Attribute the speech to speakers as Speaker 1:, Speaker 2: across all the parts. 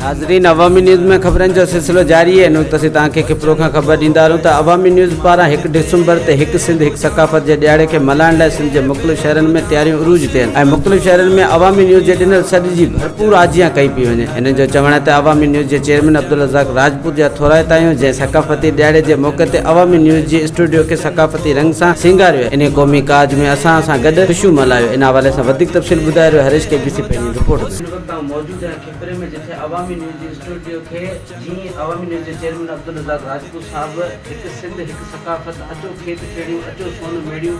Speaker 1: ناظرين عوامي نيوز ۾ خبرن جو سلسلو جاري آهي نوز تسي توهان کي کپرو کان خبر ڏيندا آهيون ته عوامي نيوز پاران 1 ڊسمبر تي هڪ سنڌ هڪ ثقافت جي ڏيهاڙي کي ملهائڻ لاء سنڌ جي مختلف شهرن ۾ تياريون عروج تي آهن ۽ مختلف شهرن ۾ عوامي نيوز جي ڏنل سڏ جي پور آجيان ڪئي پئي وڃي. هنن جو چوڻ آهي ته عوامي نيوز جي چيئرمين عبدالرزاق راجپوت جا ٿورائتايون جنهن ثقافتي ڏهاڙي جي موقعي تي عوامي نيوز جي اسٽوڊيو کي ثقافتي رنگ سان سينگاريو ۽ انهي قومي ڪاڄ ۾ اسان سان گڏ خوشيون ملهايو ان حوالي سان وڌيڪ تفصيل ٻڌائي رهيو هريش ڪي بي سي پنهنجي رپورٽ ۾. ان وقت آئون موجود آهيان کپري ۾ جتي عوامي نيوز جي اسٽوڊيو کي جيئن ئي عوامي نيوز جي چيئرمين عبدالرزاق راجپوت صاحب هڪ سنڌ هڪ ثقافت اچو کيت کيڙيون اچو سون ميڙيون،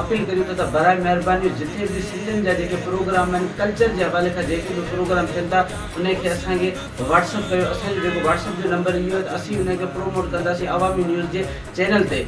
Speaker 1: اپيل ڪريون ٿا ته براء مهرباني جتي به سنڌين جا جيڪي پروگرام آهن ڪلچر جي حوالي کان جيڪي به پروگرام ٿين ٿا انهي کي اسان کي واٽس اپ ڪيو اسان جو جيڪو واٽس اپ جو نمبر اهو آهي ته اسين انهي کي پروموٽ ڪنداسين عوامي نيوز جي چينل تي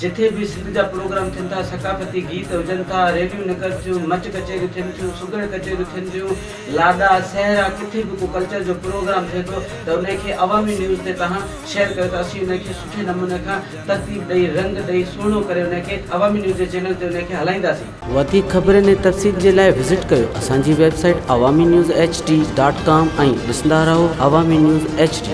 Speaker 1: جتي به سنڌ جا پروگرام ٿين ٿا ثقافتي گيت هجن ٿا ريليون نڪرن ٿيون مچ ڪچهريون ٿين ٿيون سگهڙ ڪچهريون ٿين ٿيون لاڏا سهرا ڪٿي به ڪو ڪلچر جو پروگرام ٿئي ٿو ته انهي کي عوامي نيوز تي توهان شيئر ڪيو ته اسين انهي کي سٺي نموني کان ترتيب ڏئي رنگ ڏئي سهڻو ڪري انهي کي عوامي نيوز جي چينل تي انهي کي هلائينداسين. وڌيڪ خبرن ۽ تفصيل جي لاء وزٽ ڪيو اسان جي website Awami news H D dot com ۽ ڏسندا رهو عوامي نيوز ايڇ ڊي.